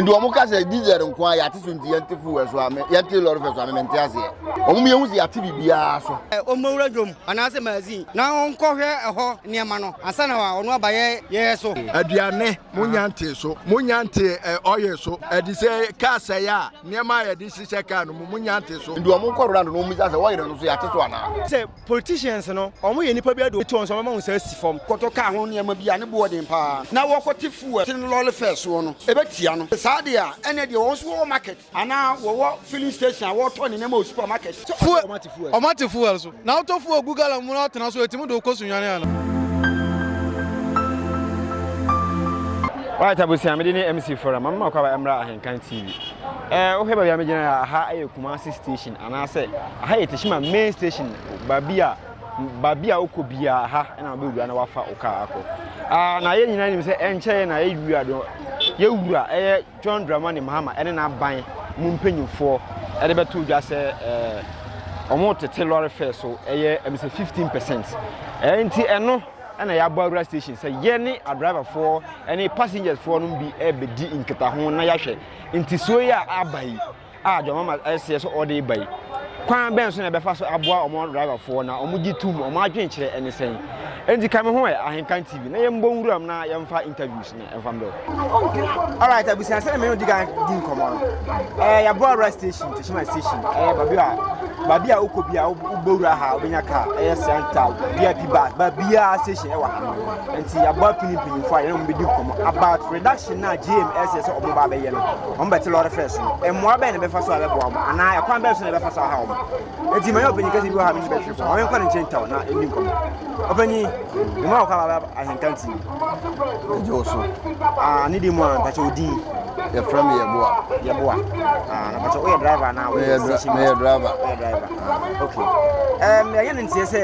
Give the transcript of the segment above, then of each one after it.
nti wɔn ka sɛ diesel nko a yɛate so nti yɛnte fuel so a yɛnte lɔre fɛ so a memente aseɛ wɔn mu yɛhu sɛ yɛate biribiara so. ɔmmɔwura dwom anaasɛ magazine na ɔnkɔhwɛ ɛhɔ nneɛma no ansa na ɔno aba yɛ yɛ so. aduane monya nte so monya nte ɔyɛ so ɛde sɛ kaa sɛe a nneɛma a yɛde hyehyɛ kaa no mu monya nte so. nti wɔn nkɔwura no na wɔmmisa sɛ wɔyere no so yɛate so anaa. Politicians no, wɔn yɛ nnipa bi ade obi te wɔn so a wɔbɛma wo nsa asi fam. Kɔtɔ kaa ho nneɛma bi a ne bo yɛ den pa ara na wɔkɔte fuel tene lɔre fare soɔ no, ɛbɛtia no. Sɛ saa deɛ a, ɛnneɛ deɛ wɔn nso wɔwɔ market anaa wɔwɔ filling station a wɔtɔ ne nneɛma wɔ supermarket. Fuel, wɔate fuel so na wotɔ fuel gu gallon mu na watena so a, ɛtumi de wo kɔ sunyane anaa? Alright abusua, me de ne MC Forum, mama makɔ aba mmra Ahenkan TV. Eh, wohwɛ baabi a megyina yɛ a, aha ɛyɛ Kumasi Station. Anaasɛ aha yɛ Teshima main station baabi a baabi a wokɔ biara ha na wobɛwura na wafa wo kaa akɔ. Ah, na yɛn nyinaa nim sɛ ɛnkyɛeɛ na yɛn wura no yɛwura ɛyɛ John Dramani Mahama ɛne n'aban mu mpanyinfoɔ ɛde bɛto dwa sɛ ɛɛ wɔn tete lɔre fare so ɛyɛ ɛmi sɛ 15 percent ɛɛ nti ɛno ɛna yɛabɔ awura station sɛ yɛn ne adriverfoɔ ɛne passengersfoɔ no bi ɛbɛdi nkitaho na yɛahwɛ ntisoɔ yi a aba yi a John Mahama ɛseɛ sɛ ɔde reba yi, kwan bɛn so na ɛbɛfa so aboa wɔn driverfoɔ na wɔn gye tom, wɔn adwene kyerɛ ɛne sɛn? Enti ka me ho ɛ Ahenkan TV na yɛn bɔ nwuram na yɛn fa interviews no ɛnfa mbɛ o. Alright abusua sɛ na mene odi kan di nkɔmɔ no, ɛɛ yɛabɔ awura station, Teshima station, ɛɛ babi a babi a wokɔ bi a wobɔ wura ha wobɛnya car, ɛyɛ Sianta VIP bus, babi a station ɛwɔ ha. Enti yɛabɔ apini mpanyinfoɔ a yɛne wɔn bɛdi nkɔmɔ about reduction na JM ɛseɛ sɛ wɔn ba abɛyɛ no. wɔbɛte lɔre fɛ so no mmoa bɛn na ɛbɛfa so a ɛbɛboa wɔn anaa ɛkwan bɛn so na ɛbɛfa so aha wɔn enti manyɛ ɔpanyin kɛse bi wɔ ha me ne bɛtwe fam ɔmenkɔ ne nkyɛn ntɛw na ɛni nkɔm ɔpanyin mema wo kaba bɛba ahenta nti ɛgye wo so ah, ne di mu a mpakyɛ odin yɛfrɛ me yɛboa yɛboa ah, na mpakyɛ woyɛ driver anaa woyɛ station meyɛ driver meyɛ driver ah, okay ɛyɛ ne nteɛ sɛ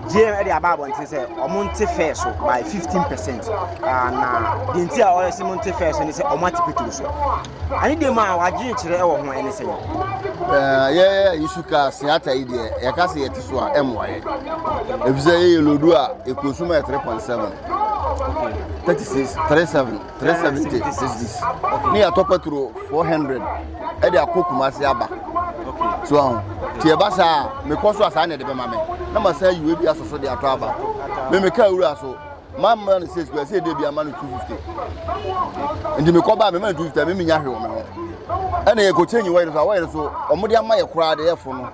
GM de aba abɔnten sɛ wɔn nte fɛɛ so by fifteen percent ah, na deɛ nti a wɔyɛ sɛ wɔn nte fɛɛ so ne sɛ wɔn ate petro so ɛne deɛ mu a wɔadwene kyerɛ wɔ ho ɛne sɛ eh, yɛyɛ yisu ka seata yi deɛ yɛka sɛ yɛte so a ɛmmoa yɛ ɛfisɛ yɛyɛ lodu a ɛkosum a yɛ three point seven thirty six three seven three seventy cedis ne yɛatɔ patro four hundred ɛde akɔ kumase aba so aho nti ɛba saa a mekɔ so a saa na ɛde bɛma me na masan yiwe bi asɔ so de atɔ aba me meka awura so mamma no sɛ sukuu ɛsɛ ɛde bi ama no two fifty nti mekɔ ba a mema no two fifty a memi nya hwe wɔ me ho ɛna yɛkɔ kyɛn nyi wɔyere so a wɔyere so wɔn de ama yɛ koraa de yɛfo no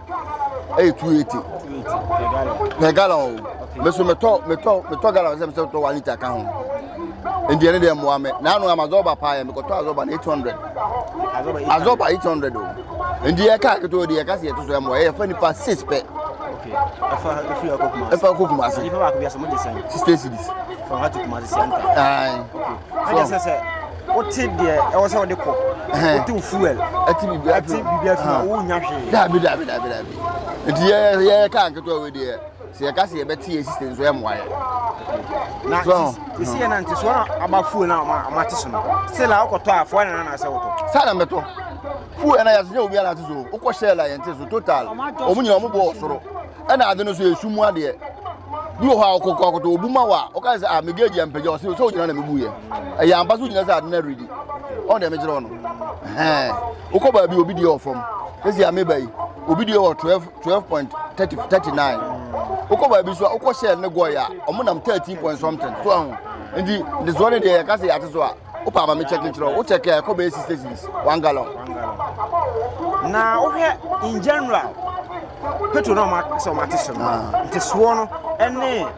ɛyɛ two eighty per gallon o mɛ so mɛtɔ mɛtɔ mɛtɔ gallon sɛ mɛtɔ one litre ka ho. ndeɛ ne deɛ mmoa me na ano ama zɔba paa yɛ mekɔtɔ azɔba no 800 azɔba 800 o ndeɛ ɛka ketewa deɛ ɛka sɛ yɛto so mmoa yɛyɛfa nipa 6 pɛ ɛfa kɔ kuma ase 60 cities wote deɛ ɛwɔ sɛ wode kɔ wote wo fuel ɛte biribiaa fi hɔ wonya hwee daabi daabi daabi daabi nti yɛyɛ kaa nketewa wei deɛ sɛ yɛka sɛ yɛbɛte yɛn sisi nso ɛmmoa yɛ na sisi yɛ nante so na aba fuel na ɔma te so no sɛ la ɔkɔtɔ a fɔɔ na na sɛ wotɔ saa na mɛtɔ fuel ɛna yɛsɛ obi ana te so wokɔ hyɛ la yɛnte so total ɔmo nyina ɔmo bɔ ɔsoro ɛna ade no so yɛsu mu adeɛ bi wɔ hɔ a ɔkɔkɔ akɔtɔ obu ma wa ɔka sɛ a ah, megage ampagya ɔse sɛ wogyina na mebu yɛ ɛyɛ ampa so wogyina sɛ ade no aredi ɔn deɛ mekyerɛ ɔno wokɔ baabi obi deɛ ɔfam ɛsi ameba yi obi deɛ wɔ 12 twelve point thirty thirty nine wokɔ baabi so a wokɔ shell ne gɔy a wɔn nam thirteen point something so ahu nti ne soɔ ne deɛ yɛka sɛ yɛate so a wopɛ ama me kyɛke nkyerɛ wo kyɛke a ɛkɔ bɛyɛ six stations one gallon na wohwɛ in general petro na ɔma sɛ ɔma te so no ah. nte soɔ no ɛne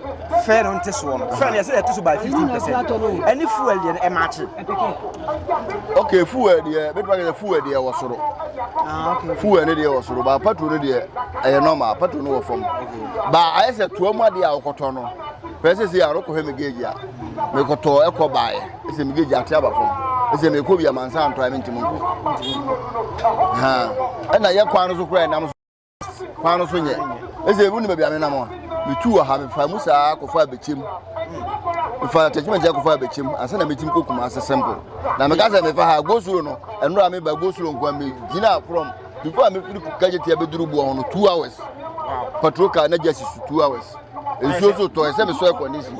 fɛ no nte soɔ no fɛ no yɛsɛ yɛte so by fifteen percent ɛne fuel deɛ no ɛma akye ok fuel deɛ bɛtuma kɛ sɛ fuel deɛ wɔ soro ah, fuel ne deɛ wɔ soro baa patro no deɛ ɛyɛ normal patro no wɔ fam baa ayɛ sɛ toa mu adeɛ a wokɔtɔ no pɛɛ sɛ sɛ a wokɔhwɛ me gauge a mekɔtɔ ɛkɔ baeɛ ɛsɛ me gauge ate aba fam ɛsɛ mekɔ bi amansa ntɔ a mentimi nkɔ ɛna yɛ kwan no so koraa ɛnam so kwan no so nyɛ ɛsɛ ebi nim ebi ame nam a metu wɔ ha mefa mu saa akɔfa abɛkyɛ mu mefa attachment akɔfa abɛkyɛ mu ansa na metumi kɔ kuma ase simple na meka sɛ mefa ha gosuro no ɛnora a meba gosuro nkoa megyina from before a mefiri kagyetia bɛduru boɔ ho no two hours patrol car na gya si so two hours nsuo so tɔ ɛsɛ mesɔ ɛkɔndisi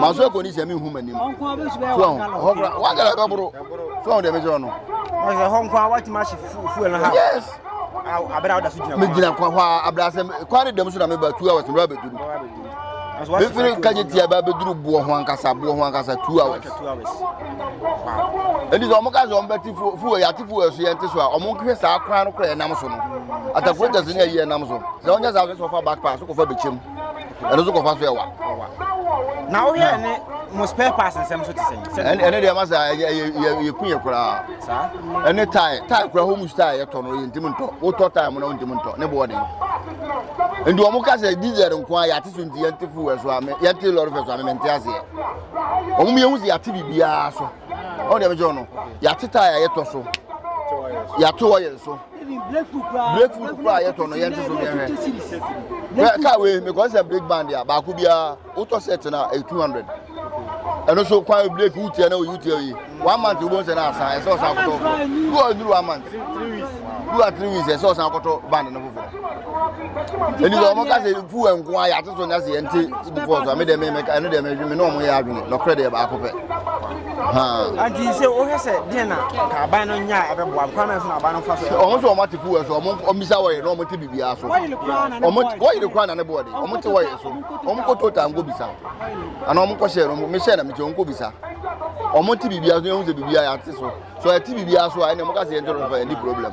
masɔ ɛkɔndisi a menhu m'anim so ho hɔ kora wagara bɛboro so ho deɛ mekyerɛ no yes megyina kwa hɔ a abrasɛ kwa ne dam so na meba two hours mmerɛ bɛduru mefiri kagye tia ba bɛduru boɔ ho ankasa boɔ ho ankasa two hours ɛnti sɛ ɔmo ka sɛ ɔmo bɛte fuo yɛate fuo so yɛnte so a ɔmo nhwɛ saa kwan no kora yɛnam so no atakurotas ne ayi yɛnam so sɛ ɔnyɛ saa sɛ ɔfa backpass kɔfa bɛkyɛm ɛno nso kɔfa so ɛwa na wohwɛ ne mo spare parts nsɛm so te sɛ ɛne deɛ ma sɛ yɛku yɛ koraa ɛne tae tae koraa homus tae yɛtɔ no yɛntimi ntɔ wotɔ tae mo na wontimi ntɔ ne boɔden nti wɔn ka sɛ diesel nko a yɛate so nti yɛnte fuel so a yɛnte lɔre fɛ so a mɛmɛnte aseɛ wɔn mu yɛn ho sɛ yɛate biribiara so ɔn deɛ bɛgye ɔno yɛate tae a yɛtɔ so yɛate oil so breakfruit kura a yɛtɔ no yɛn nso so yɛn hɛ kaa wei because sɛ break band a baako biara wotɔ set na ɛyɛ two hundred ɛno so kwan break wutia na oyi wutia oyi one month wo bɔ nsɛ na asan ɛsɛ ɔsan akɔtɔ foforɔ du ɔduru one month du a three weeks ɛsɛ ɔsan akɔtɔ band no foforɔ ɛni sɛ ɔmo ka sɛ fu ɛnko ayɛ ate so nyɛ sɛ yɛn ti ibu fɔs ame dɛm ɛmɛ ɛno dɛm ɛdwi mi na ɔmo yɛ adwene na ɔkura deɛ baako pɛ. nti sɛ wohwɛ sɛ deɛ na ka aban no nya a ɛbɛboa m kwan so na aban no fa so ɔmo sɛ ɔmo ate fuwa so ɔmo ɔmmisa wɔyɛ na ɔmo te biribiara so ɔmo wɔyere kora na ne boɔ de ɔmo te wɔyɛ so ɔmo kɔ total nkɔ bisa anaa ɔmo kɔ hyɛ no mehyɛ na mekyɛ ɔmo kɔ bisa ɔmo te biribiara so ɛhu sɛ biribiara yɛate so so ɛte biribiara so a ɛne ɔmo ka sɛ yɛnte no fa ɛni problem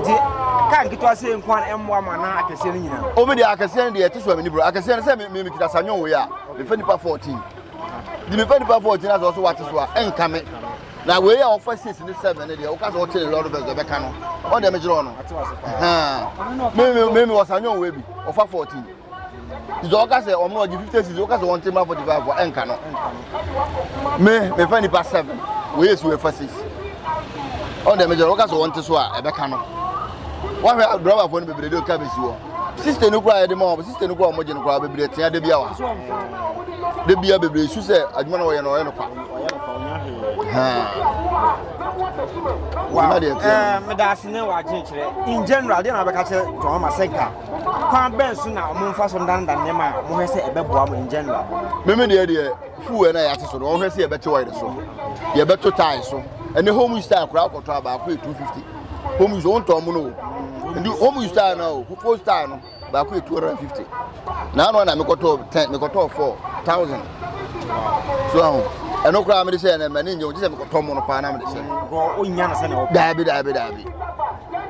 nti ka nketewa sɛ nko a ɛmmoa ma na akɛseɛ no nyinaa ɔmi deɛ akɛseɛ no deɛ ɛte so a mene bro akɛseɛ no sɛ mekita sa nwon wei a mefa nipa 14 de mefa nipa 14 a sɛ ɔso wate so a ɛnka me na wei a ɔfa six ne seven ne deɛ woka sɛ ɔte ne lɔre fɛ sɛ ɛbɛka no ɔdeɛ megyerɛ ɔno meme wɔ sa nwon wei bi ɔfa 14 sɛ ɔka sɛ ɔmo ɔgye fifty six ɔka sɛ ɔnte ma forty five ɛnka no me mefa nipa seven wɔyɛ si wɔfa six ɔn dɛ megyɛ ɔka sɛ ɔnte so a ɛbɛka no wɔhwɛ drɔbafoɔ no bebree de ɔka bɛsi hɔ sista no kura yɛde ma wɔn sista no kura wɔn gye no kura bebree tia de bia wa de bia bebree su sɛ adwuma na wɔyɛ no ɔyɛ no kwa meda ase ne wɔagye kyerɛ in general deɛ na wobɛka kyerɛ tɔn ma sɛ nka kwan bɛn so na wɔn mfa so ndanda nneɛma a wɔhwɛ sɛ ɛbɛboa mo in general. mímí deɛ deɛ fuu ɛna yɛate so no wɔhwɛ sɛ yɛbɛte wɔyere so yɛbɛto tae so ɛne home use tae koraa kɔtɔ a baako yɛ two fifty home use wɔn tɔn mu no o nti home use tae no o koko tae no baako yɛ two hundred and fifty na ano na mekɔtɔ ten mekɔtɔ four thousand so ahun ɛno koraa mede sɛ ɛnɛ mɛ ne nyɛ wɔn gye sɛ mekɔtɔ mu no paa na mede sɛ. nkɔ o nya na sɛ na ɔpɛ. daabi daabi daabi.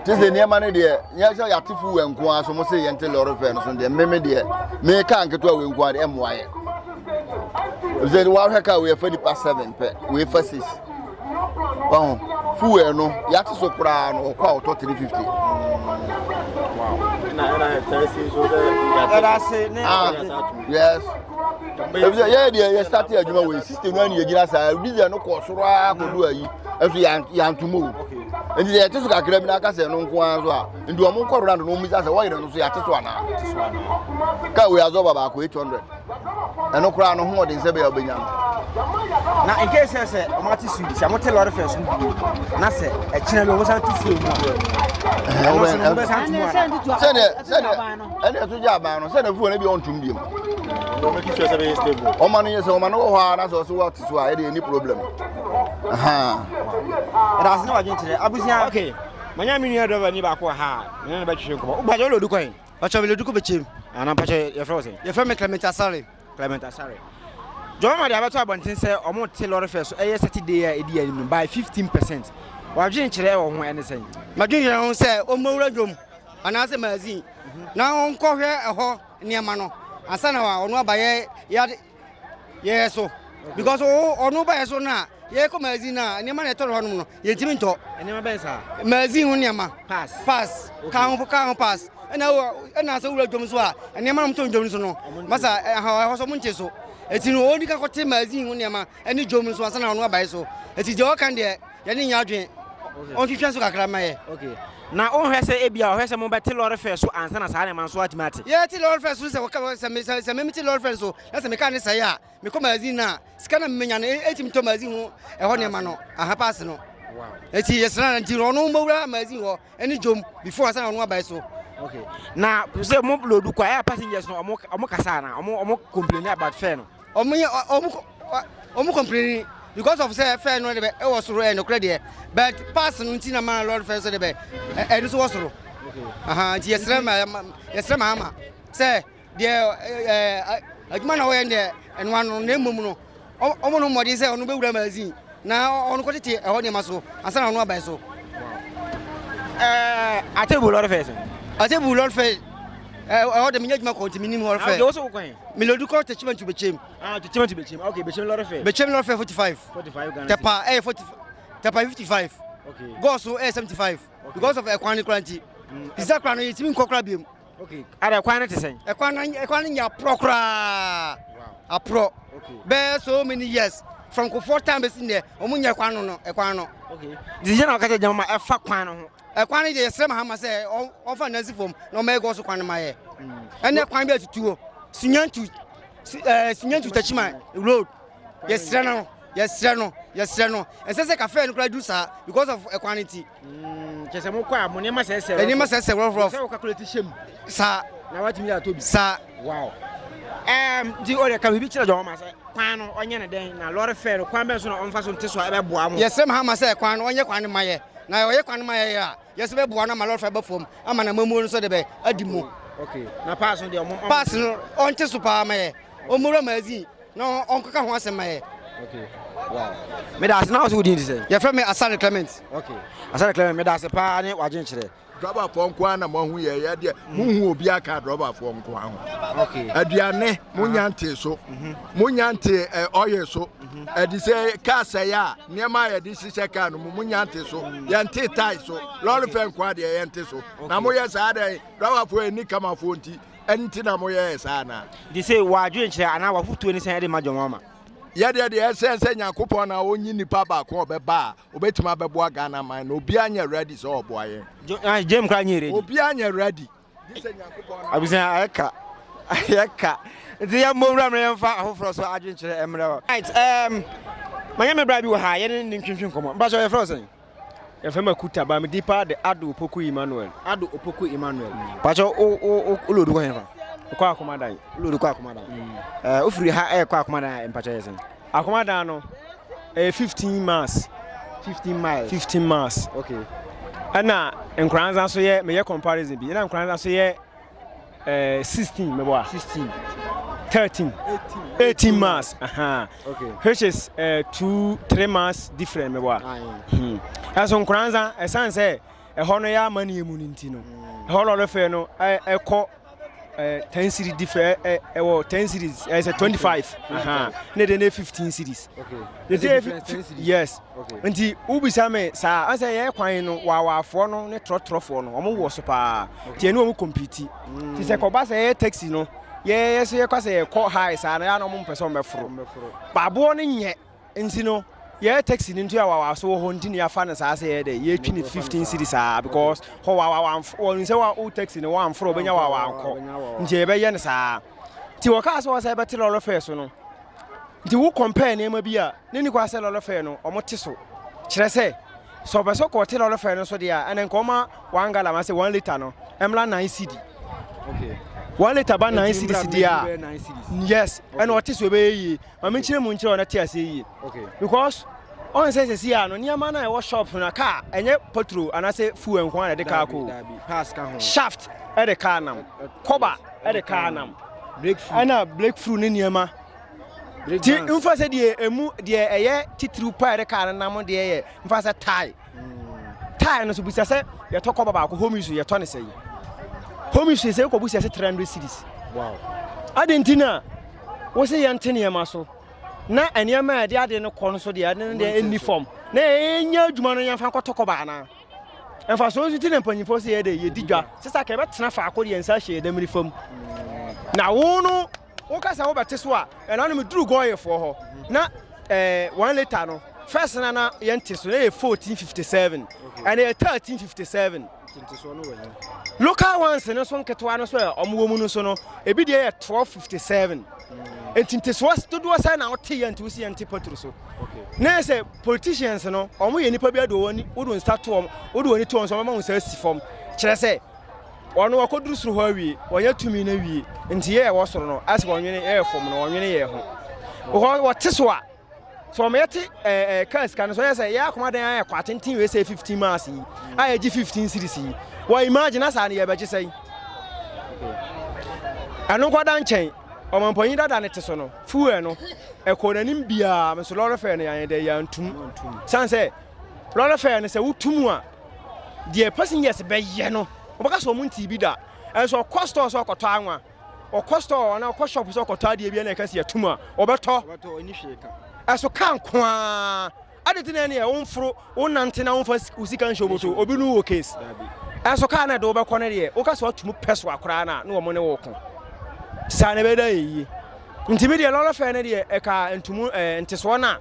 te sɛ nneɛma no deɛ yɛn sɛ yɛate fu wɛ nko ara so mo se yɛn te lɔre fɛ no so deɛ mmemme deɛ mmemme kaa nketewa wɛ nko ara deɛ ɛmoa yɛ ɛsɛ wɔahwɛ kaa wɔ yɛfa nipa seven pɛ wɔ fa six ɔho fu wɛ no yɛate so koraa no ɔkɔ a ɔtɔ three fifty. Wow. Yes. ebisɛ yɛyɛ deɛ yɛ start adwuma wɔ yi system no ɛna yɛgyina saa diesel no kɔ soro ara kɔdu ayi ɛso yantom o nti sɛ yɛte so kakra bi na aka sɛ ɛno nko ara so a nti wɔn nkɔ round no wɔn bisa sɛ wɔyere no so yɛate so anaa kaa wei azɔ ba baako eight hundred ɛno koraa no ho ɔden sɛ bɛyɛ ɔbɛnya no na nke sɛ sɛ ɔmo ate su sɛ ɔmo te lɔre fɛ so bi na sɛ ɛkyerɛ bi ɔmo san tu fie mu a ɛno nso ɔmo bɛ san tu mu a sɛdeɛ sɛdeɛ ɛna ɛto gya aban no sɛdeɛ fuo no bi ɔntum biem ɔma no yɛ sɛ ɔma no wɔ hɔ a na sɛ ɔso wa te so a ɛde ɛni problem ɛdaase ne wadwen kyerɛ abusua okay manya me nua dɔba ni baako wɔ ha a ne ne bɛtwehwe nkɔmmɔ wobagye wode ɔdu kwan ɔkyɛ mele duku bɛkyɛm ana mpakyɛ yɛfrɛ wo sɛ yɛfrɛ me clement asare clement asare dwɔma ma de abɛto abɔnten sɛ ɔmo te lɔre fɛ so ɛyɛ saturday a ɛdi anim by 15 percent wadwen kyerɛ wɔ ho ɛne sɛn madwen kyerɛ ho sɛ ɔmmɔwura dwom anaasɛ magazine na ɔnkɔhwɛ ɛhɔ nneɛma no ansa na ɔno aba yɛ yɛ yɛ so because o ɔno ba yɛ so na yɛ kɔ magazine na nneɛma na ɛtɔ no hɔnom no yɛntumi ntɔ nneɛma bɛn saa magazine ho nneɛma pass pass kaa ho kaa ho pass ɛna wɔ ɛna sɛ wura dwom so a nneɛma na wɔtɔ dwom so no masa ɛha ɛhɔ so wɔn nte so eti no wɔn nika kɔte magazine ho nneɛma ɛne dwom nso ansa na ɔno aba yɛ so eti deɛ ɔka deɛ. Yɛne nyɛ adwene. Ɔnhwehwɛ nso kakra ma yɛ. Okay. Na wonhwɛ sɛ ebia ɔhwɛ sɛ mobɛte lɔre fɛ so ansa na saa nneɛma nso atumi ate? Yɛte lɔre fɛ so sɛ wɔka sɛ me sɛ me mete lɔre fɛ so na sɛ meka ne sɛe a mekɔ magazine na sika na menya no etimi tɔ magazine ho ɛhɔ nneɛma no aha pass no. Eti yɛsra na nti ɔno mowura magazine hɔ ɛne dwom before asana ɔno abae so. Okay. Na sɛ mo lodu kwa ɛyɛ passengers no ɔmo ɔmo kasa na ɔmo ɔmo complain about fare no. Wɔn yɛ wɔn wɔn complain because of sɛ fɛn no de bɛ ɛwɔ soro ɛyɛ nokorɛ deɛ but pass no nti na ma lɔri fɛn so de bɛ ɛno so wɔ soro nti yɛsrɛ ma yɛsrɛ ma ama sɛ deɛ ɛɛ adwuma na wɔyɛ deɛ ɛnoa no na mmom no wɔn no mmɔden sɛ wɔn bɛwura magazine. Na ɔno kɔ tete ɛhɔ nneɛma so ansa na ɔno abae so. Ɛɛ atebu lɔri fɛ so. Atebu lɔri fɛ ɛhɔ de mi nye juma kɔ nti mi ni mu lɔri fɛ. Awo so kɔ yen. Mi lodi kɔ tete chimentu bechem. Ah tete chimentu bechem ok bechem lɔri fɛ. Bechem lɔri fɛ forty five. Forty five Ghana. Tɛpa ɛyɛ forty tɛpa fifty five. Ok. Gɔɔso ɛyɛ seventy five. Because of ɛkwan ne kura nti. Sisa kura no yɛ ti mi nkɔ kura bi mu. okay ada kwan no te sɛn ɛkwan no ɛkwan no nya aporɔ koraa aporɔ bɛɛ so many years from kofoɔ time bɛsi nnɛ ɔmo nyɛ kwan no no ɛkwan no okay de yɛ na ɔka sɛ gyama ma ɛfa kwan no ho ɛkwan no yɛ srɛ mahama sɛ ɔfa nansi fam na ɔma ɛgɔ so kwan no ma yɛ ɛnɛ kwan bi atutuo sinyantu ɛɛ sinyantu takyima road yɛsrɛ no yɛsrɛ no yɛsrɛ no ɛsɛ sɛ kafɛɛ no koraa du saa because of ɛkwan no ti Mm, kyɛ sɛ mokɔ a mo nneɛma sɛsɛ nneɛma sɛsɛ rɔfrɔf sɛ wɔkakulate hyɛ mu saa na watumi yɛ atɔ bi saa wow um, nti ɔde ka biribi kyerɛ dɔn ma sɛ kwan no ɔnyɛ ne dɛn na lɔre fɛ no kwan bɛn so na ɔmfa so nte so a ɛbɛboa mo yɛsrɛ ma ha ma sɛ kwan no ɔnyɛ kwan no ma yɛ na ɔyɛ kwan no ma yɛ a yɛsɛ bɛboa no ama lɔre fɛ bɛ fam ama na mamuo no so de bɛ adi mu okay na pass no deɛ ɔmo pass no ɔnte so paa ma yɛ ɔmo wura ma azin na ɔnkɔka ho asɛm ma yɛ. meda ase na wo so wo din te sɛ yɛfrɛ me asare clement okay asare clement meda ase paa ne w'adwenkyerɛ drɔbafoɔ nko ara na moahu yɛ yɛ deɛ mohu obi aka drɔbafoɔ nko ara ho aduane monya ntee so monya ntee ɔyɛ so ɛde sɛ kaa sɛe a nneɛma a yɛde hyehyɛ kaa no mu monya nte so yɛnte tae so lɔre fɛ nko ara deɛ yɛnte so na moyɛ saa dɛn drɔbafoɔ ɛni kamafoɔ nti nti na moyɛɛ saa anaa? Nti se w'adwenkyerɛ anaa w'afotuo ne sɛn de ma John Mahama? Yɛ deɛ deɛ ɛsɛn sɛ Nyankopɔn na ɔnyi nipa baako a ɔbɛba a ɔbɛtumi abɛboa Ghana man no obiara nyɛ ready sɛ ɔboa yɛn. Jo, ah, Jame koraa nyɛ ready. Obiara nyɛ ready. Gye sɛ Nyankopɔn na. Abusua ayɛ ka, ayɛ ka. Nti yɛ mmɔ nwura mmerɛ yɛmfa ahoforɔ so adwenkyerɛ mmerɛ hɔ. Right, um, manyɛ me bra bi wɔ ha yɛne ne ntwintwi nkɔmmɔ. Mpakyɛ yɛfrɛ wo sɛn? Yɛfrɛ me Akuta but me din paa de Addo Opoku Emmanuel. Addo Opoku Emmanuel. Pacho o o o o lodu kɔ hɛn fa. Kɔ Akomadan. O lodu kɔ Akomadan. Mm. Eh, o firi ha eh kɔ Akomadan eh pacho yɛ sɛn. Akomadan no eh 15 miles. 15 miles. 15 miles. Okay. Ɛna Nkoranza so yɛ meyɛ comparison bi. Ɛna Nkoranza so yɛ 16 mɛbɔ a 16 13 18 miles aha okay which is uh, two three miles different mɛbɔ a hmm. ɛso nkoranza ɛsan sɛ ɛhɔ no yɛ ama ne mu no nti no hmm. ɛhɔ lɔre fɛ no ɛkɔ ten series different ɛwɔ ten series ɛsɛ twenty five ne de ne fifteen series okay yes Nti wobisa me saa a, sɛ yɛyɛ kwan no waawaafoɔ no ne trɔtrɔfoɔ no wɔn wɔ so paa nti ɛne wɔn compete nti sɛ kɔba sɛ yɛyɛ taxi no yɛyɛ sɛ yɛkɔ sɛ yɛkɔ high saa no yɛ na wɔn mpɛ sɛ wɔbɛforo baaboɔ no nyɛ nti no yɛyɛ taxi no nti a waawaa so wɔ hɔ nti ne yɛafa no saa sɛ yɛyɛ dɛ yɛtwi ne 15 series saa because hɔ waawaa wɔn sɛ wa wo taxi no wɔamforo wɔbɛnya waawaa nkɔ nti yɛbɛyɛ no saa nti wɔkaa sɛ wɔ sɛ yɛbɛte lɔre fɛ so no nti wo compare nneɛma bi a ne ne kɔ sɛ lɔre fɛ no wɔn te so kyerɛ sɛ sɛ ɔpɛ sɛ kɔɔte lɔre fɛ no so deɛ a ɛnɛ nka ɔma one gallon ase one litre no ɛmla nine cd one litre ba nine cd cd a yes ɛna ɔte so ɛbɛyɛ yie ma menkyerɛ mu nkyerɛ ɔno te aseɛ yie because ɔn sɛ sɛsi a no nneɛma no a ɛwɔ shop no kaa ɛnyɛ petrol anaasɛ fuel nko a na ɛde kaa kɔ shaft ɛde kaa nam kɔba ɛde kaa nam ɛna breakthrough ne nneɛma ti nfa sɛ deɛ emu deɛ ɛyɛ titiriw pa ɛde kaa no nam deɛ yɛ nfa sɛ tae hmm. tae no so busa sɛ yɛtɔ kɔba baako home use yɛtɔ ne sɛ yi home use sɛ kɔ busa sɛ three hundred series wow adi nti na wosi yɛn te nneɛma so na nneɛma a yɛde ade no kɔ no so deɛ ɛne deɛ ɛni fam na yɛn nyɛ adwuma no yɛn fa kɔtɔ kɔba anaa. mfasoɔ nso ti na mpanyinfoɔ sɛ yɛde yɛdi dwa sɛ sɛ aka yɛbɛtena faako de yɛn nsa ahyɛ yɛn nam nifa mu na wo no woka sɛ wobɛte so a ɛna no meduru gɔɔyefoɔ hɔ na eh, one later no first na na yɛnte so na yɛ 1457 ɛna yɛ 1357 local ones no so nketewa no so ɛ ɔmo wɔ mu no so no ebi deɛ yɛ 1257 nti ntesoɔ dodoɔ sɛ na wote yɛ nti wosi yɛ nte patro so na yɛ sɛ Politicians no wɔn yɛ nipa bi adi wɔn ani wodo nsa to wɔn wode wɔn ani to wɔn so wɔn ma wɔn nsa si fam kyerɛ sɛ wɔn wɔkɔduru soro hɔ awie wɔnyɛ tumi no awie nti yɛ ɛwɔ soro no asɛ wɔn nwene yɛ fam no wɔn nwene yɛ ho wɔn wɔte so a sɛ wɔn yɛte ɛɛ eh, eh, kaa sika no so yɛ sɛ yɛ akoma dan ayɛ kɔ atenten wei sɛ fifteen miles yi a yɛgye fifteen series yi wɔn imagine asaa no yɛbɛgye sɛn ɛno nkɔda nkyɛn ɔmampɔnyin dada ne te so no Fuel no, ɛkɔɔ n'anim biara, me nso lɔre fare no yɛanyɛ dɛ, yɛantum. Ɛsiane sɛ lɔre fare no sɛ wotum a, deɛ passengers bɛyɛ no, wɔbɛka sɛ wɔntee bi da. Ɛnso ɔkɔ store sɛ ɔkɔtɔ anwa, ɔkɔ store anaa ɔkɔ shop sɛ ɔkɔtɔ adeɛ bi na ɛka sɛ yɛatum a, ɔbɛtɔ. Ɛso car nko ara. Ade nti na ɛneɛ wo mforo wo nante na wo mfa wo sika nhyɛ obo so obi nu wo case ɛnso car na ɛde wo bɛkɔ no deɛ wo ka sɛ watum pɛ so akoraa na na wɔn ne wo ko saa na ɛbɛda yɛ yie nti me deɛ lɔre fɛ no deɛ ɛka ntumu ɛɛ ntesoɔ na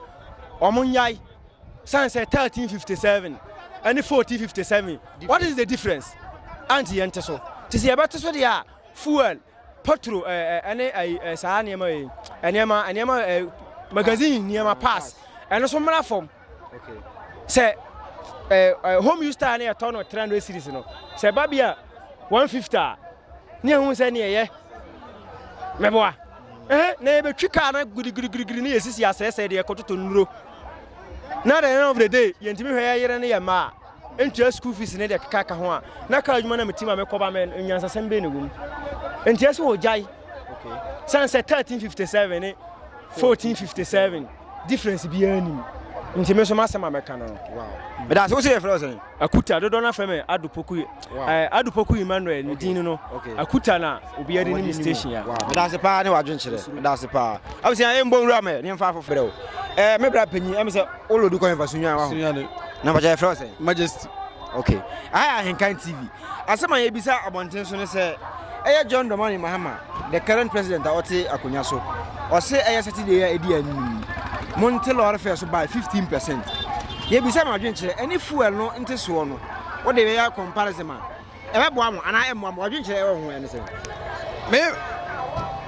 wɔn nyae san sɛ 1357 ɛne 1457 what is the difference anti yɛn te so te sɛ yɛbɛte so deɛ a fuel Petro ne saa nneɛma yi nneɛma nneɛma magazine nneɛma pass ɛno nso mmara fam sɛ home use star no yɛtɔ no 300 series no sɛ ba bi a 150 a ne ɛhu sɛ ne ɛyɛ mɛboa na yɛbɛtwi kaa no girigirigirigiri ne yɛsisi asɛesɛe deɛ ɛkɔtoto nnuro na the end of the day yɛntumi hwɛ yɛyere ne yɛ mmaa Ntua sukuu fees ne deɛ ɛkeka ka ho a, na kaa adwuma na meti ma mekɔ ba mɛ nyansasɛm bɛn na ɛwɔ mu? Nti ɛsɛ wɔgyae. Okay. Sane sɛ 1357 ne 1457 difference biara nim. Nti me nso masɛm a mɛka no. Wow. Meda ase wo sɛ yɛfrɛ wo sɛn? Akuta dodoɔ no afrɛ me Adupoku. Wow. Eh, Adupoku Emmanuel ne din no. Okay. Akuta na obi adi ne me station ya. Wow. Meda ase paa ne wadwenkyerɛ. Meda ase paa. Abusua ɛmbɔ nwura mɛ ne mfa afofrɛ wo. Eh, me bra panyin ɛmɛ sɛ wo lodi kɔ yɛn fa sunyan wa ho. Sunyan. na mpakyɛ yɛfrɛ wo sɛ majesty okay aha yɛ ahenkan tv asɛm a yɛbisa abɔnten so ne sɛ ɛyɛ john dramani mahama the current president a ɔte akonnwa so ɔse ɛyɛ saturday a ɛdi anim monte lɔre fɛ so by 15 percent yɛbisa ma adwenkyerɛ ɛne fuel no nte soɔ no wode bɛyɛ comparison a ɛbɛboa mo anaa ɛmmoa mo adwenkyerɛ ɛwɔ ho ɛne sɛ me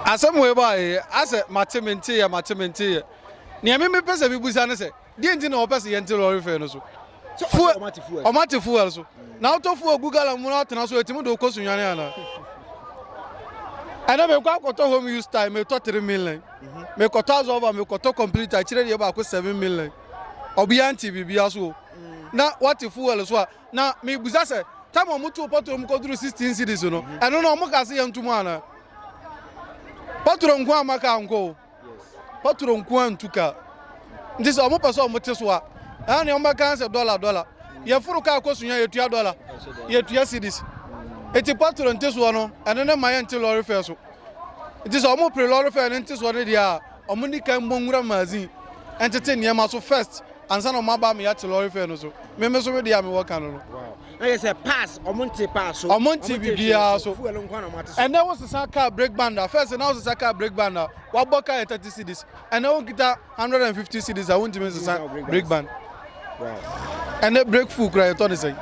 asɛm wei baeɛ asɛ mate menteeɛ mate menteeɛ nea me mepɛ sɛ mebusa ne sɛ Deɛ nti na wɔpɛ sɛ yɛnte lɔre fɛɛ no so? Fuel, wɔn ate fuel so. Na wotɔ fuel gu gallon mu na atena so, etumi de okɔ sunwane anaa? Ɛnna mekɔ akɔtɔ home use time, metɔ three million. Mekɔtɔ azɔva, mekɔtɔ complete akyire deɛ baako seven million. Ɔbea nti biribiara so o. Na wate fuel so a, na mebusa sɛ, tam a wɔtoo pɔtoro mu kɔduru sixteen cities no, ɛno no wɔka se yɛnto mu anaa? Pɔtoro nko a maka ankɔ o. Yes. Patro nko ara ntu kaa. Nti sɛ wɔn pɛ sɛ wɔn te so a, ɛha nea wɔn bɛka sɛ dɔla dɔla. Yɛforo kaa kɔ sunya yɛtua dɔla, yɛtua cedis. Nti patro nte soɔ no, ɛno ne ma yɛnte lɔre fɛ so. Nti sɛ wɔn pere lɔre fɛ ne nte soɔ no deɛ a, wɔn ni kan mmɔ nwura magazine ɛntete nneɛma so first ansa na wɔn aba ama yɛate lɔre fɛ no so. Meme so me deɛ a mewɔ ka no no. ayɛ sɛ pass ɔmo nte pass so ɔmo nte biribiara so fuel nko na ɔmo ate so ɛnɛ wo sesa car brake band a first na wo sesa car brake band a wabɔ car yɛ thirty cedis ɛnɛ wo nkita hundred and fifty cedis a wontumi nsesa brake band ɛnɛ brake fuel kura yɛtɔ ne sɛn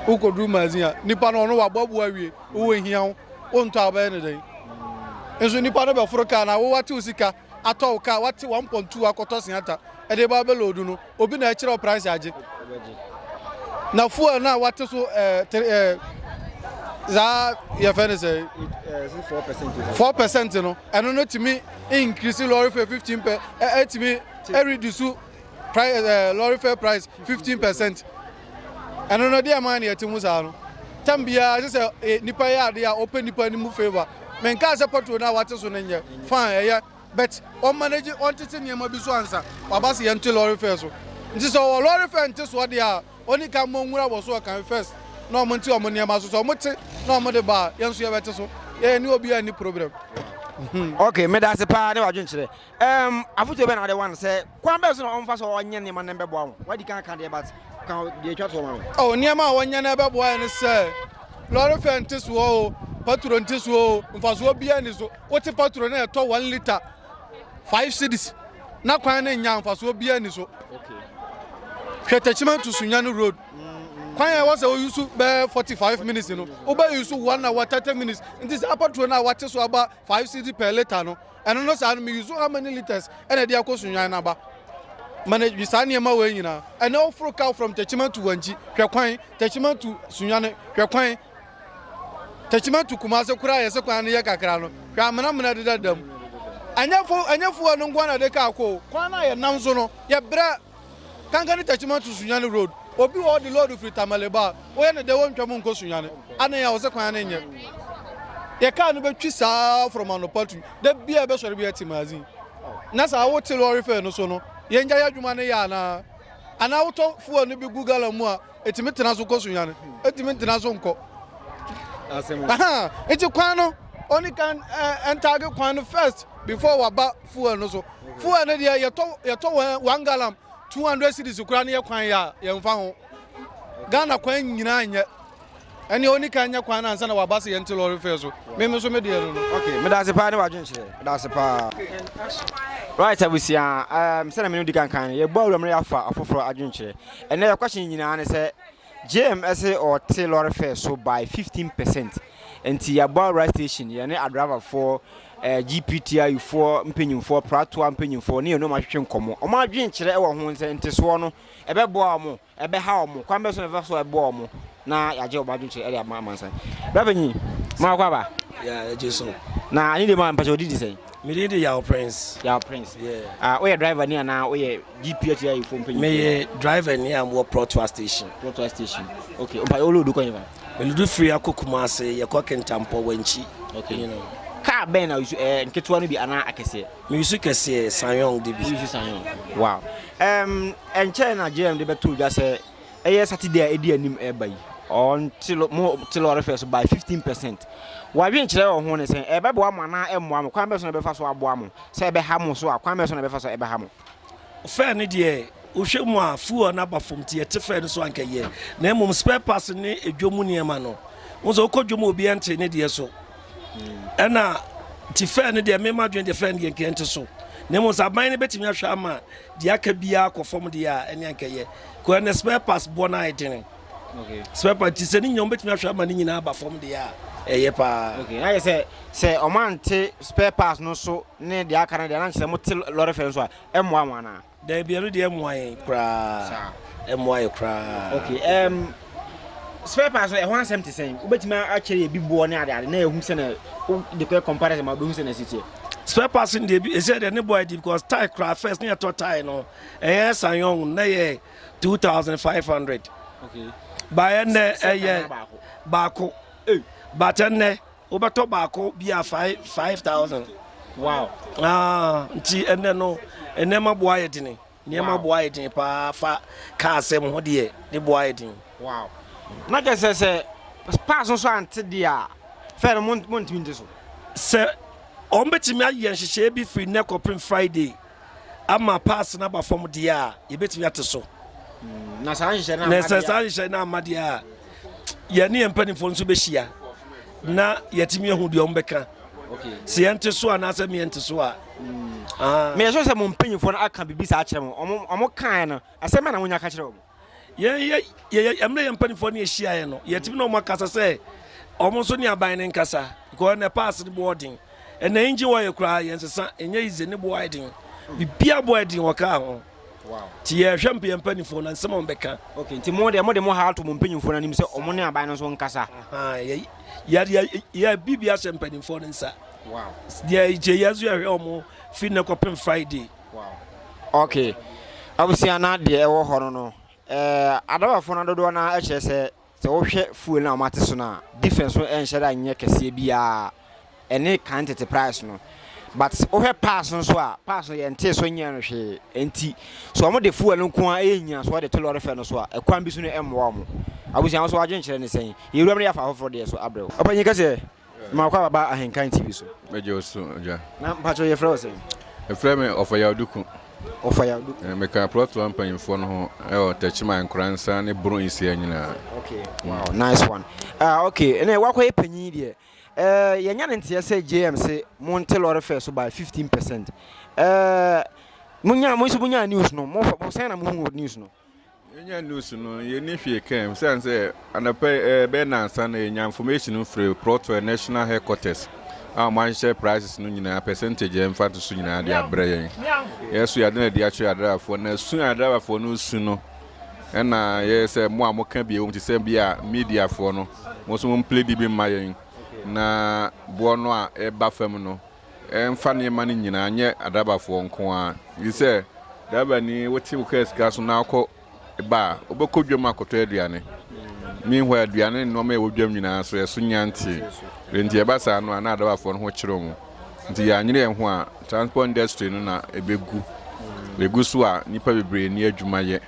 wokɔduru magazine a nipa no ɔno waboaboa awie wowɔ hia wo wontɔ a wobɛyɛ ne dɛn nso nipa no bɛforo car na wowatew sika atɔ wo car wate one point two akɔtɔ sianta ɛde ba bɛ load no obi na ɛkyerɛ price agye na fuel na wate so ɛɛ eh, ɛɛ eh, zaa yɛfɛ ne sɛ eh, four percent no ɛno no tumi increase lorry fare fifteen pɛ ɛtumi ɛreduce Price ɛɛ eh, lorry fare price fifteen percent. Ɛno no deɛ ɛmaa neɛ ɛte ho saa no. Tam biara ɛsɛ sɛ eh, nipa yɛ adeɛ a ɔpɛ nipa no mu favour. Menkaa sɛ pɔtro no a wate so no nyɛ fine ɛyɛ but ɔmanage ɔntete nneɛma bi so ansa waba se yɛnte lorry fare so. Nti sɛ ɔwɔ lorry fare nte soɔ deɛ a ɔni ka mmɔ nwura wɔ so ɔkan first na ɔmo nte ɔmo nneɛma so sɛ ɔmo te na ɔmo de ba a yɛn nso yɛbɛte so. Yɛyɛ ne obi a ɛni problem. Hmm. Okay, meda ase paa ne wadwenkyerɛ. Um, afotuo bɛ na wode wan sɛ kwan bɛn so na ɔmfa so ɔnyɛ nneɛma no bɛboa wo? Wadi kan ka deɛ but ka deɛ atwa toɔ ma me. Oh, nneɛma a wɔnyɛ no bɛboa yɛ no sɛ lɔre fɛ nte soɔ o, patro nte soɔ o, mfasoɔ biara ni so. Wote patro na ɛtɔ one liter five cedis na kwan no nya mfasoɔ biara ni so. Hwɛ Techiman to Sunyani road. Mm-hmm. Kwan a ɛwɔ sɛ woyusu bɛɛ forty five minutes no, wobɛyusu one hour thirty minutes. Nti saa patro no a wate so aba five cedi per liter no, ɛno no saa no me use how many litres ɛna ɛde akɔ sunyan no aba manage saa nneɛma wɔ nyinaa ɛnɛ woforo cow from tachima to wankyi hwɛ kwan tachima to sunyan hwɛ kwan tachima to kumase koraa yɛsɛ kwan no yɛ kakra no hwɛ amena mena deda dam ɛnyɛ fo ɛnyɛ fo ɛno nko na de kaa kɔ kwan no a yɛnam so no yɛbrɛ Kanka ne Techiman to Sunyani road. Obi wɔ hɔ de lɔɔre firi Tamale ba a, woyɛ no dɛn wontwa mu nkɔ Sunyani? Adɛn a wo sɛ kwan no nyɛ? Yɛ kaa no bɛtwi saa from anɔpa tu, da biara ɛbɛsɔre bɛyɛ Timazin. Na saa wote lɔɔre fare no so no, yɛn gya yɛ adwuma no yɛ anaa? Anaa wotɔ fuel no bi gu gallon mu a, Ɛtumi tena so kɔ sunyane, ɛtumi ntena so nkɔ. Nti kwan no, ɔni kan ɛntaage kwan no first before waba fuel no so. Fuel no deɛ yɛtɔ one gallon two hundred cedis kura no yɛ kwan yɛ a yɛmfa ho. Ghana kwan nyinaa nyɛ. Ɛneɛ ɔni kan nyɛ kwan no ansa na waba sɛ yɛnte lɔre fɛ so. Me me nso me deɛ no no. Okay, meda ase paa ne w'adwenkyerɛ. Meda ase paa. Right abusua, um, sɛdeɛ me no di kan kan no, yɛbɔ awura mu na yɛafa afoforɔ adwenkyerɛ. Ɛnɛ yɛ question nyinaa ne sɛ JM ɛse ɔte lɔre fɛ so by 15 percent. Nti yɛabɔ awura station, yɛne adriverfoɔ, eh, GPTIU foɔ mpanyinfoɔ, pratoa mpanyinfoɔ ne yɛne ɔmo ahwehwɛ nkɔmmɔ. Ɔmo adwenkyerɛ ɛwɔ ho nsɛ ntesoɔ no ɛbɛboa ɔmo. Ɛbɛha wɔn. Kwan bɛn so na yɛbɛfa so aboa wɔn na yɛagye wɔn adwenkyerɛ de ama amansan? Bra panyin, ma wakɔ aba. Yeah, yɛgye so. Na ani de ma mpakyɛ odi di sɛn? Mede di Yaw Prince. Yaw Prince. Yeah. Ah, woyɛ driver ni anaa woyɛ GPH ayi fo mpanyin? Meyɛ driver ni a mowɔ Protoa station. Protoa station. Okay. Mpa yɛ olodu kwan fa. Meludu firi akɔ Kumase, yɛkɔ Kintampɔ, Wankyi. Okay. You know. Car bɛn na ɛyɛ nketewa no bi anaa akɛseɛ? Meresu kɛseɛ, Sanyong de bi. Woresu Sanyong, wow. Um, ɛnkyɛɛ na JM de bɛtoo dwa sɛ ɛyɛ Saturday a ɛdi anim ɛreba yi. Ɔnte lɔ mo te lɔre fɛ so by fifteen percent. Wadwen kyerɛ wɔ ho ne sɛ ɛbɛboa mo anaa ɛmmoa mo, kwan bɛ so na ɛbɛfa so aboa mo, sɛ ɛbɛha mo so a kwan bɛ so na ɛbɛfa so ɛbɛha mo. Fɛ no deɛ wohwɛ mu a fuel no aba fam nti yɛte fɛ no so anka yɛ na mmom spare parts ne edwom mu nneɛma no. Wo sɛ wokɔ dwom obi ɛnte ne deɛ so ɛna ti fɛn no deɛ mema dwen deɛ fɛn deɛ nkeɛ nte so na mmom sɛ aban no bɛtumi ahwɛ ama deɛ aka biara kɔ fam deɛ a ɛne ankɛyɛ kɔ ɛnɛ spare parts boɔ no ayɛ dene okay. spare part ti sɛ ne nyinaa wobɛtumi ahwɛ ama ne nyinaa aba fam deɛ a ɛyɛ paa okay. ayɛ sɛ sɛ ɔmante spare parts no so ne deɛ aka no deɛ na nkyɛ sɛ mote lɔre fɛ nso a ɛmmoa ho anaa Daabi ɛno deɛ ɛmoa yɛn koraa ɛmoa yɛn koraa. Okay um, spare parts no ɛho asɛm te sɛn wobɛtumi akyerɛ yɛ bi boɔ ne adeade na ɛhu sɛ na wode kɔɛ comparison ma wobɛhu sɛ na ɛsi teɛ. Spare parts no deɛ ɛsɛ deɛ ne boɔ adi because tie koraa first ne yɛtɔ tie no ɛyɛ sanyɔn na yɛ 2500 okay. baeɛ nnɛ ɛyɛ baako but ɛnnɛ Wobɛtɔ baako bi a five five thousand. Wow. Ah, nti ɛnɛ no nneɛma boa yɛ dene. Nneɛma wow. boa yɛ dene paa fa kaa asɛm ho deɛ ne boa yɛ dene. Wow. Na kyɛ sɛ sɛ pass nso ante deɛ a fɛ no mo ntumi nte so. Sɛ wɔn bɛtumi ayɛ nhyehyɛeɛ bi firi nnɛ kɔpem Friday. ama pass no aba fam deɛ a yɛbɛtumi ate so na saa nhyehyɛ no amma deɛ a saa nhyehyɛ no amma deɛ a yɛne yɛn mpanimfoɔ nso bɛhyia na yɛtumi ahu deɛ ɔmbɛka sɛ yɛnte so anaasɛ meɛnte so a meyɛ sɛ sɛ mo mpanyimfoɔ no aka biribi saa kyerɛ mo ɔmo kaeɛ no asɛm na monya ka kyerɛ ɔmo yɛn yɛ yɛ yɛ mmerɛ yɛn mpanimfoɔ ne ahyiaeɛ no yɛtumi na wɔn akasa sɛ wɔn nso ne aban no nkasa because na pass no boɔ den ɛna engine wɔ yɛ koraa yɛn sesa ɛnyɛ yize ne boɔ ayɛ den bibia boɔ ayɛ den wɔ kaa ho ti yɛhwɛ mpa yɛn mpanimfoɔ na nsɛm a wɔbɛka. okay nti mo deɛ mo de mo ha ato mo mpanyinfoɔ no anim sɛ wɔn ne aban no nso nkasa. yɛ yɛ yɛ yɛ biribi ahyɛ mpanimfoɔ no nsa. wow deɛ gye yɛn nso yɛhwɛ wɔn fi nnɛ kɔpem friday. ok abusua na deɛ ɛwɔ hɔ no no ɛɛ adabafo na dodoɔ na ɛkyerɛ sɛ sɛ wohwɛ fuel na wɔn ate so na difference no ɛnhyɛ da nyɛ kɛseɛ biara ɛne kan tete price no but wohwɛ pass nso a pass no yɛn tee so nyɛ no hwee nti so wɔn de fuel no nko ara ɛyɛ nyina so wɔde to lɔre fɛ no so a ɛkwan bi so no ɛmmoa wɔn abusua nso wɔagye nkyerɛ ne sɛn yɛwura mu yɛ afa afoforɔ deɛ so abrɛw ɔpanyin kɛseɛ Mema kwa baba ahenkan TV so. Mɛgye wo so gya. Na mpakyɛ yɛfrɛ wo sɛ? Ɛfrɛ me Ɔfɔyaw Duku. Ɔfɔyaw Duku. Eh, meka plɔto a mpanyinfoɔ no ho ɛwɔ eh, Tɛkyima, Nkoransa ne Boro Nsia nyinaa. Okay, mm. wow, nice one. Ah, okay, ɛnna wakɔyɛ panyin deɛ. Eh, yɛnya ne nteɛ sɛ JM se monte lɔre fɛ so by 15 percent. Eh, munya, mo nso munya news no, mo sɛn na muhu news no? Yɛnya news no yɛnni hwee ka mu sane sɛ anɔpɛ ɛbɛyɛ nansa na yɛnya information no firi Protwell National Headquarters a wɔahyehyɛ prices no nyinaa percentage a ɛmfa to so nyinaa de abrɛ yɛn. Yɛso yɛade no adi akyerɛ adrabafoɔ na su a adrabafoɔ no su no ɛna yɛ sɛ mo a moka bi ɛwom te sɛ bi a mediafoɔ no mo nso mo mpledi bi mma yɛn na boɔ no a ɛba fam no mfa nneɛma no nyinaa nyɛ adrabafoɔ nko ara. Ɛfiri sɛ, drabani, wote wo kaa sika so na wokɔ ba a, wobɛkɔ dwam akɔtɔ aduane. Meanwhile, aduane ne nneɛma a ɛwɔ dwam nyinaa so ɛso nya ntee. Enti ɛba saa no a, na adrabafoɔ no ho kyere wɔn. Nti yɛanyere yɛn ho a, transport industry no na ɛbɛgu. Ɛgu so a, nnipa bebree nni adwuma yɛ.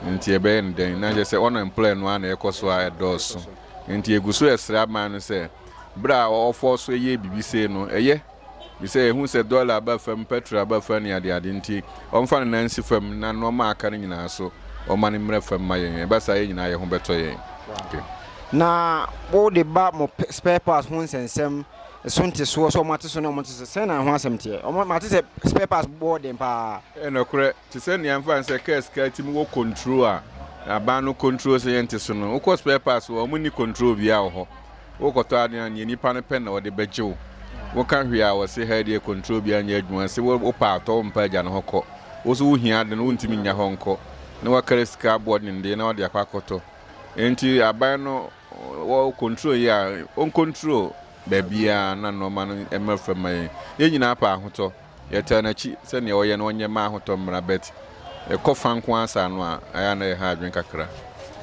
Nti ɛbɛyɛ no dɛn? Na kyerɛ sɛ unemployed no ara na ɛkɔ so a ɛdɔɔso. Nti yɛgu so resrɛ aban no sɛ, Ber a ɔfɔr so yɛ biribi sei no, ɛyɛ me sɛ ehu sɛ dɔla aba fam, pɛtrol aba fam ne adeade ntsi, ɔmfa no nan nsi fam na nɔɔma a aka no nyina so ɔma no mbrɛ fam ma yɛn. Ɛba saa a, yɛn nyina hɛnho bɛtɔ yɛn. Na wo de ba mo spare parts ho nsɛnsɛm so ntesoɔ sɛ ɔmo ate so ne ɔmo nte so, sɛn na ɛho asɛm teɛ? Ɔmo, mate sɛ spare parts bɔ den paa. Ɛyɛ nɔkorɛ, Te sɛ nea ɛmfa ho sɛ kaa sika atim wɔ control a aban no control sɛ yɛnte so no, wokɔ spare parts hɔ a, wɔnni control biara wɔ hɔ. Worekɔtɔ ade no a, nea nipa no pɛ na ɔde bɛgye wo. Woka hwee a, wɔse ha deɛ control biara nyɛ adwuma, se wopɛ a tɔ, wompɛ a gya no hɔ kɔ. Wo nso wohia ade no, wontumi nnya hɔ nkɔ, na woakra sika abɔ denden na wode akɔ akɔtɔ. Enti aban no wɔ control yɛ a, ɔncontrol baabiara na nnoɔma no mmra fam mma yɛn. Yɛn nyinaa pɛ ahotɔ. Yɛtaa nakyi sɛ nea ɔyɛ no ɔnyɛ mma ahotɔ mmra but ɛkɔ fa nko ara saa no a ɛyɛ a na ɛha adwene kakra.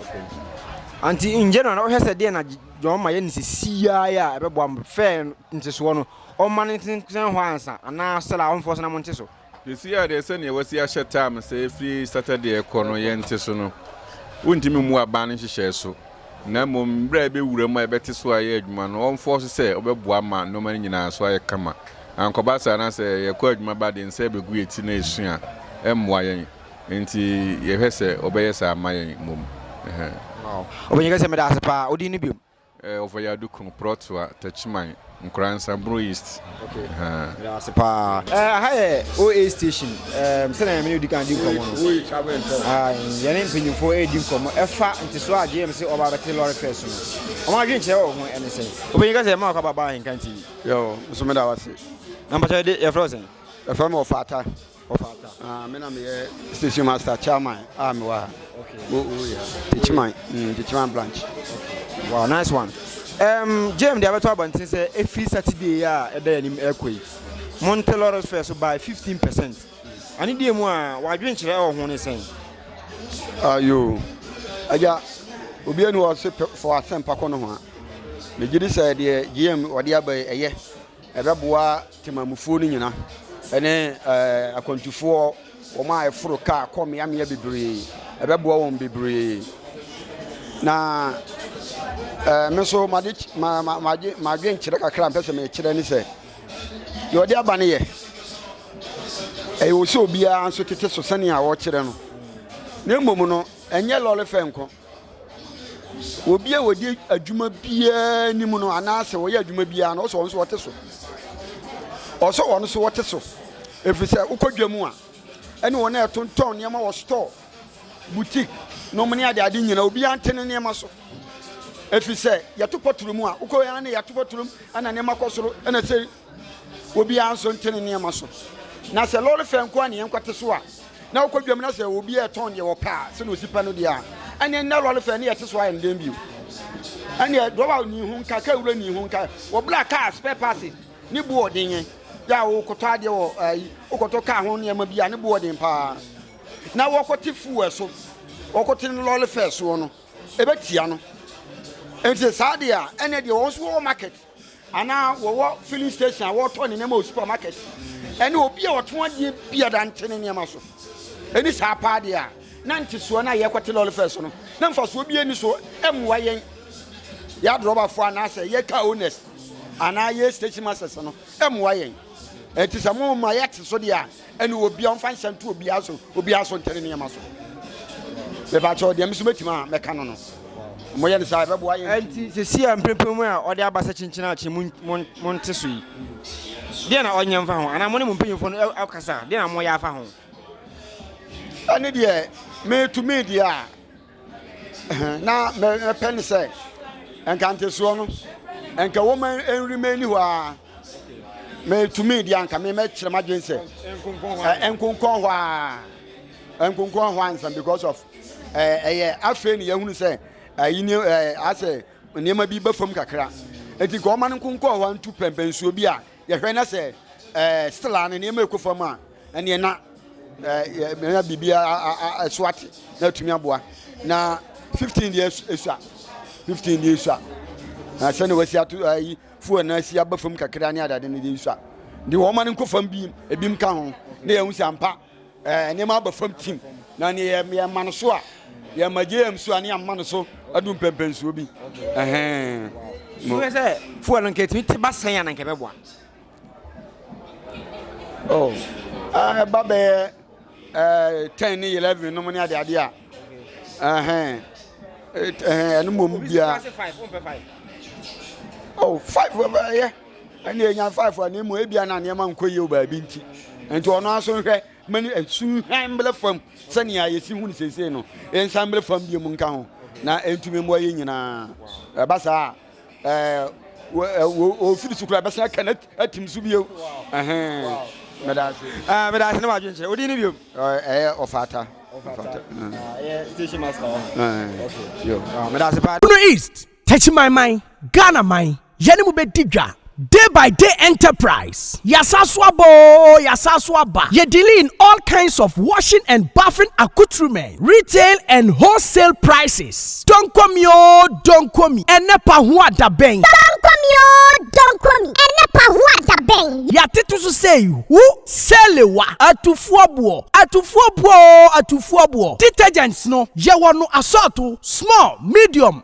Okay nti anti in general na wohwɛ sɛ deɛ na John ma yɛ ne sɛ siaa yɛ a ɛbɛboa mo fɛɛ ntesoɔ no ɔma no ntensɛn hɔ ansa anaa sɛ la ɔmfoɔ so na mo nte so? Sɛsi a deɛ sɛdeɛ wasi ahyɛ time sɛ ɛfiri Saturday ɛkɔ no yɛnte so no wontumi mmu aban no nhyehyɛɛ so Na mmom bere a ebewura mu a yɛbɛte so ayɛ adwuma no, ɔmfɔw so sɛ ɔbɛboa ma nneɛma no nyinaa so ayɛ kama. Ankɔba saa na sɛ yɛkɔ adwuma ba de nsa ebegu yɛn ti na yɛasu a, ɛremmoa yɛn. Enti yɛhwɛ sɛ ɔbɛyɛ saa ama yɛn mmom. Ɔpanyin ka sɛ, Meda ase paa. Wo din ne bio? Ɔfɔyado Kunu, Prɔtoa, Takyiman. Nkran Sabro East. Okay. Ɛhaa. Ase paa. Ɛɛ aha yɛ OA station. Ɛɛm sɛnea yɛn mene odi kan di nkɔmɔ no. Oye travel and tour. Aa yɛn ne mpanyinfoɔ ɛredi nkɔmɔ ɛfa ntesoɔ a JMC ɔba abɛte lɔre fɛ so no. Wɔn adwene kyerɛ wɔ ho ɛne sɛ. Opanyin kasa yɛ mma wakɔ aba Ahenkan TV. Yoo nso meda wase. Na mpakyɛ yɛde yɛfrɛ wo sɛn? Yɛfrɛ me Ɔfata. Ɔfata. Ah, me na meyɛ station master chairman a mewɔ ha. Okay. Oh, oh yeah. Techiman, mm, Techiman branch. Okay. Wow, nice one. Um, Jim, deɛ abɛtɔ abɔnten sɛ ɛfiri Saturday a ɛda yɛn anim ɛkɔ yi. Monte Lawrence Fair so by 15 percent. Ane deɛ mu a wadwenkyerɛ ɛwɔ ho ne sɛn? Ayo, agya, obi ani wɔ se fɔ asɛmpa kɔ no ho a. Megye di sɛ deɛ GM wɔde aba yi ɛyɛ. Ɛbɛboa temamufoɔ no nyina ne akwantufoɔ wɔn a ɛforo kaa kɔ mmeammea bebree. Ɛbɛboa wɔn bebree. Na ɛɛ me nso made ma ma made madwenkyerɛ kakra a mpɛ sɛ mekyerɛ ne sɛ deɛ ɔde aba no yɛ ɛyɛ wɔ sɛ obiara nso tete so sɛnea ɔkyerɛ no na mmom no ɛnyɛ lɔre fɛ nko Obi a wɔdi adwuma biara nim no anaasɛ wɔyɛ adwuma biara no, ɔsɛ wɔn nso wɔte so. Ɔsɛ wɔn nso wɔte so. Ɛfiri sɛ wokɔ dwa mu a, ɛne wɔn a ɛtontɔn nneɛma wɔ store, boutique, nom ne ade ade nyinaa, obiara nte ne nneɛma so. Ɛfiri sɛ yɛto pɔtoro mu a, wokɔ yɛn ne yɛto pɔtoro mu, ɛna nneɛma kɔ soro, ɛna sɛ Obiara nso nte ne nneɛma so. Na sɛ lɔre fɛ nko ara na yɛnkɔte so a, na wokɔ dwam na sɛ obiara retɔn deɛ wɔpɛ a, sɛdeɛ ɔsi pɛ no deɛ a, ɛneɛ nnɛ lɔre fɛ ne yɛte so ayɛ no dɛn bio? Ɛneɛ dɔba ni ho nka, kaa wura ni ho nka, wɔbla kaa spare parts ne bo ɔden yɛ a wokɔtɔ adeɛ wɔ ayi wokɔtɔ kaa ho nneɛma bi a ne bo ɔden paa na wɔkɔte fuel so wɔkɔte no lɔre fɛ soɔ no ɛbɛtia no nti saa deɛ a ɛneɛ deɛ wɔn nso wɔ market anaa wɔwɔ filling station a wɔtɔ ne nneɛma wɔ supermarket ɛne obi a ɔtɔn adeɛ bi a dante ne nneɛma so ɛni saa paa deɛ a na ntesoɔ no a yɛkɔte lɔre fɛ so no na mfasoɔ bi ani so mmoa yɛn yɛadrɔbafoɔ anaasɛ yɛ car owners anaa yɛ station masters no mmoa yɛn ɛti sɛ mo ma yɛte so deɛ a ɛne obiara ɔmfa nhyɛ nto obiara so obiara so ntɛne nneɛma so mebakyɛ ɔdeɛ meso mɛtumi a mɛka no no moyɛ no saa ɛbɛboa yɛ nti sɛsi a mprempem mu a ɔde abasa kyinkyina akye mo nte so yi deɛ na ɔnyɛ mfa ho anaa mo ne mo mpanyimfoɔ no akasa deɛ na moyɛ afa ho ɛne deɛ metumi deɛ a na mɛpɛ ne sɛ nka ntesoɔ no nka wɔn nrima ani hɔ ara mɛtumi deɛ anka mɛkyerɛ m'adwene sɛ nkonkɔn hɔ ara nkonkɔn hɔ ansa because of ɛyɛ afei ne yɛhunu sɛ ayi ne asɛ nneɛma bi bɛ fam kakra eti nka wɔn nkonkɔn hɔ ntu pɛmpɛnsuo bi a Yɛhwɛ na sɛ still a ne nneɛma rekɔ fam a, ɛneɛ na na biribi ɛso ate na atumi aboa na 15 deɛ ɛsua 15 deɛ ɛsua na sɛne wasi ato ayi fuel na asi aba fam kakra ne adade no deɛ ɛsua de wɔma no nkɔ fam bi ebim ka ho na yɛhu sɛ ampa Nneɛma aba fam tim, na nea yɛmma no so a, yɛmma JM so a ne yɛmma no so adu mpɛmpɛnsoɔ bi. Wohwɛ sɛ fuel no nka ɛtumi te ba sɛn a na nka ɛbɛboa? Oh, ɛba bɛyɛ eh, ten ne eleven nom ne adeade a ɛhɛn ɛno mmom biara oh five ɛyɛ Ɛnde enya five a, na mmom ebia na nneɛma nkɔ yie wɔ baabi nti. Enti ɔno ara nso nhwɛ ma ne nsu nhwan mbrɛ fam sɛnea yɛsi hu no seesei no, nsan mbrɛ fam bio mu nka ho na ɛntumi mmoa yɛn nyinaa. Ɛba saa a, wɔfiri so koraa ɛbɛsan aka no atim so bio. Meda ase. Ah, meda ase ne w'adwenkyerɛ. Wodin no bio? Ɛyɛ Ɔfata. Ɔfata. Ɛyɛ station master hɔ. Okay. Yo. Meda ase paa. Bono East. Techimanman, Ghana man, yɛne mo bɛdi dwa, Day by Day Enterprise, Yɛasan so aba oo, yɛasan so aba, yɛ dealing in all kinds of washing and bathing accoutrements, retail and wholesale prices, Donkomi oo, Donkomi, ɛnɛ pa ho adabɛn. Donkomi oo, Donkomi, ɛnɛ pa ho adabɛn. Yɛatete so sɛ yi wo, Sɛlewa, Atufoɔ boɔ, Atufoɔ boɔ oo, Atufoɔ boɔ, Detergents no, yɛwɔ no asɔɔto, small, medium,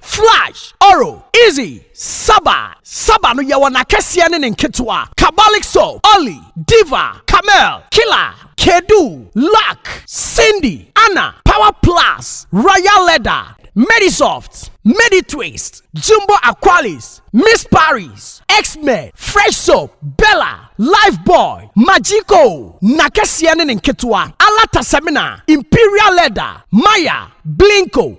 Flash, Oro, Izzy, Saba, Saba no yɛwɔ n'akɛseɛ ne ne nketewa, Kabalik Soap, Olly, Diva, Camel, Killer, Kedu, Luck, Cindy, Anna, Power Plus, Royal Leather, Medisoft, Meditwist, Jumbo Aqualis, Miss Paris, X-Men, Fresh Soap, Bella, Lifebuoy, Magico, n'akɛseɛ ne ne nketewa, Alata Semina, Imperial Leather, Maya, Blinko,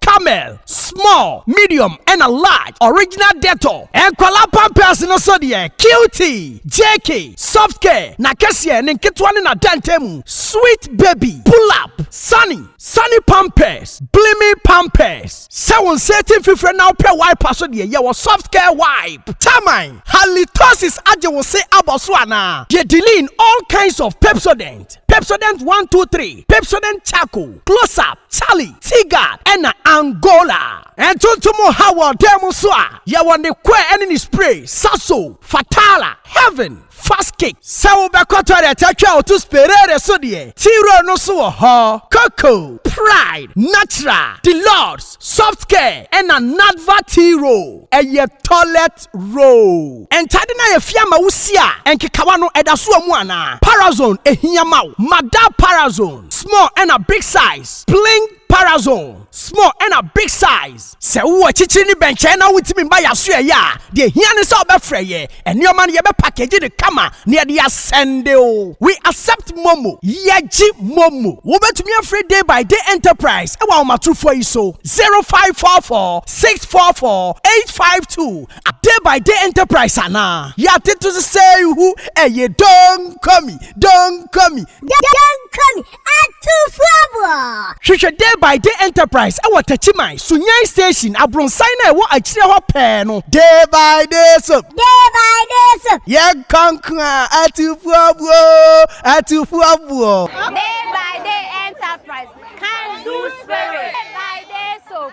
Camel, small, medium ɛna large, original Dettol, nkwadaa pampers no so deɛ Cutie, JK, soft care, n'akɛseɛ, ne nketewa ne n'adantan mu, sweet baby, pull up, sunny, sunny pampers, blimi pampers, sɛ wo nsa ati mfifire na wopɛ wiper so deɛ yɛwɔ soft care wipe, taman, halitosis agye wo se abɔ so anaa? Deɛ Diline, all kinds of Pepsodent, Pepsodent one two three, Pepsodent charcoal, close up, Charlie Tigard na Angola. Ntontom ha wɔ dan mu nso a, yɛwɔ ne kɔɛ ne ne spray, Sasso, Fatala, Heaven, Fast Kick. Sɛ wobɛkɔ toilet atwa a woto Sperere so deɛ, T-Roll no nso wɔ hɔ. Coco, Pride, Natural, Deluxe, Soft Care na Nadva T-Roll yɛ toilet. First row. Ntade no a yɛafia ama wo si a nkekawa no ɛda so wɔ mu anaa? Parazone ɛhia ma wo? Ma da Parazone small ɛna big size Pling Parazone small ɛna big size. Sɛ wowɔ akyikyiri ne bɛnkyɛn na wontumi mma yɛn asoɛeɛ a, deɛ ɛhia ne sɛ wobɛfrɛ yɛn. Nneɛma no yɛbɛpakegye no kama na yɛde asɛnde wo. We accept momo, Yɛgye momo. Wobɛtumi afrɛ Day by Day Enterprise wɔ ahomatorofoɔ yi so, 0544. six four four eight five two a day by day enterprise anaa yɛate to se sei hu ɛyɛ donkomi donkomi donkomi atufoɔboɔ hwehwɛ day by day enterprise ɛwɔ takyiman sunyani station abronsan no a ɛwɔ akyire hɔ pɛɛ no day by day soap day by day soap yɛ nkonko a atufoɔboɔ atufoɔboɔ day by day enterprise can do spirit day by day soap